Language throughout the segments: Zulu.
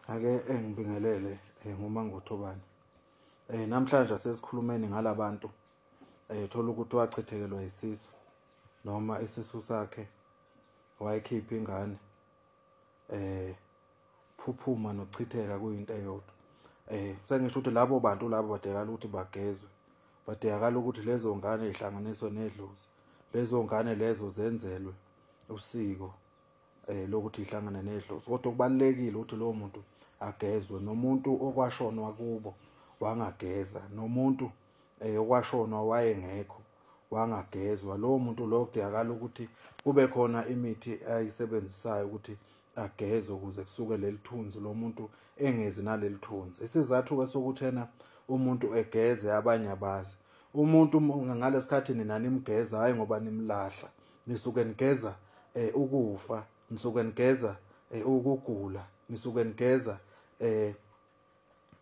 ake engibingelele eh, ngumangothobane eh namhlanje asesikhulumeni ngalabantu eh thola ukuthi wachithekelwa isisu noma isisu sakhe wayikhipha ingane eh phuphuma nochitheka kuyinto eyodwa eh sengisho ukuthi labo bantu labo badekala ukuthi bagezwe badekala ukuthi lezo ngane ihlanganiswe nedlozi lezo ngane lezo zenzelwe usiko eh lokuthi ihlangane nedlozi kodwa kubalekile ukuthi lowo muntu agezwe nomuntu okwashonwa kubo wangageza nomuntu eh okwashonwa wayengekho wangagezwa lowo muntu lo kudingakala ukuthi kube khona imithi ayisebenzisayo ukuthi ageze ukuze kusuke leli thunzi lo muntu engezi naleli thunzi isizathu-ke sokuthena umuntu egeze abanye abazi umuntu ngalesikhathi nina nimgeza hhayi ngoba nimlahla nisuke nigeza eh ukufa nisuke nigeza eh ukugula nisuke nigeza eh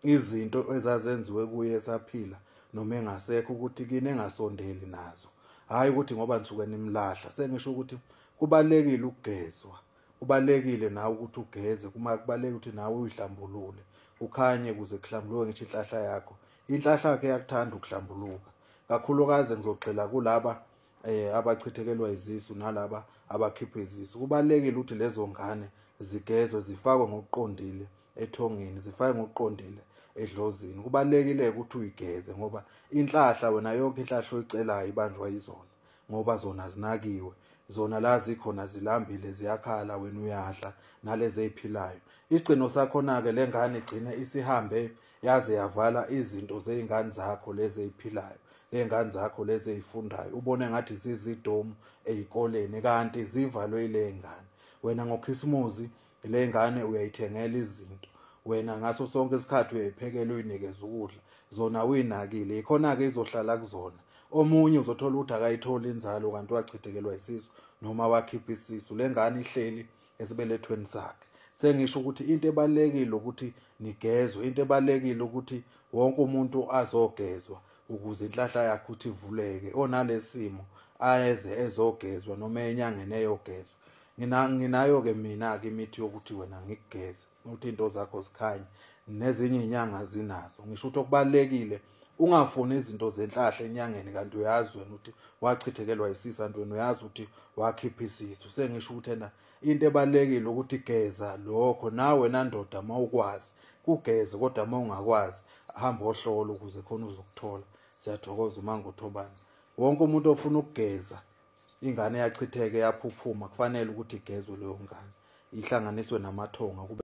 izinto ezazenziwe kuye esaphila noma engasekho ukuthi kini engasondeli nazo hayi ukuthi ngoba nisuke nimlahla sengisho ukuthi kubalekile ukugezwa kubalekile nawe ukuthi ugeze kuma kubaleke ukuthi nawe uyihlambulule ukhanye kuze kuhlambuluke ngisho inhlahla yakho inhlahla yakhe yakuthanda ukuhlambuluka kakhulukazi ngizogxila kulaba eh abachithekelwa izisu nalaba abakhipha izisu kubalekile ukuthi lezo ngane zigezwe zifakwe ngokuqondile ethongeni zifakwe ngokuqondile edlozini kubalekile ukuthi uyigeze ngoba inhlahla wena yonke inhlahla oyicelayo ibanjwa izona ngoba zona zinakiwe zona la zikhona zilambile ziyakhala wena uyadla nalezi eziphilayo isigcino sakhona ke lengane igcine isihambe yaze yavala izinto zey'ngane zakho lezi ey'philayo ley'ngane zakho lezi ey'fundayo ubone ngathi zizidomu ey'koleni kanti zivalwe iley'ngane wena ngokhisimuzi ley'ngane uyayithengela izinto wena ngaso sonke isikhathi uyayiphekela uyinikeza ukudla zona uyinakile yikhona-ke izohlala kuzona omunye uzothola ukuthi akayitholi inzalo kanti wachithekelwa isisu noma wakhipha isisu le ngane ihleli esibelethweni sakhe sengisho ukuthi into ebalekile ukuthi nigezwe into ebalekile ukuthi wonke umuntu azogezwa ukuze inhlahla yakhe ukuthi ivuleke onalesimo ayeze ezogezwa noma enyangeni eyogezwa ngina nginayo ke mina ke imithi yokuthi wena ngikugeze ukuthi into zakho zikhanye nezinye inyanga zinazo ngisho ukuthi okubalekile ungafuni izinto zenhlahla enyangeni kanti uyazi wena ukuthi wachithekelwa isisa nto wena uyazi ukuthi wakhipha isisu sengisho ukuthi ena into ebalekile ukuthi geza lokho nawe nandoda mawukwazi kugeze kodwa mawungakwazi hamba ohlola ukuze khona uzokuthola siyathokoza uma ngothobana wonke umuntu ofuna ukugeza ingane yachitheke yaphuphuma kufanele ukuthi igezwe leyo ngane ihlanganiswe namathonga kube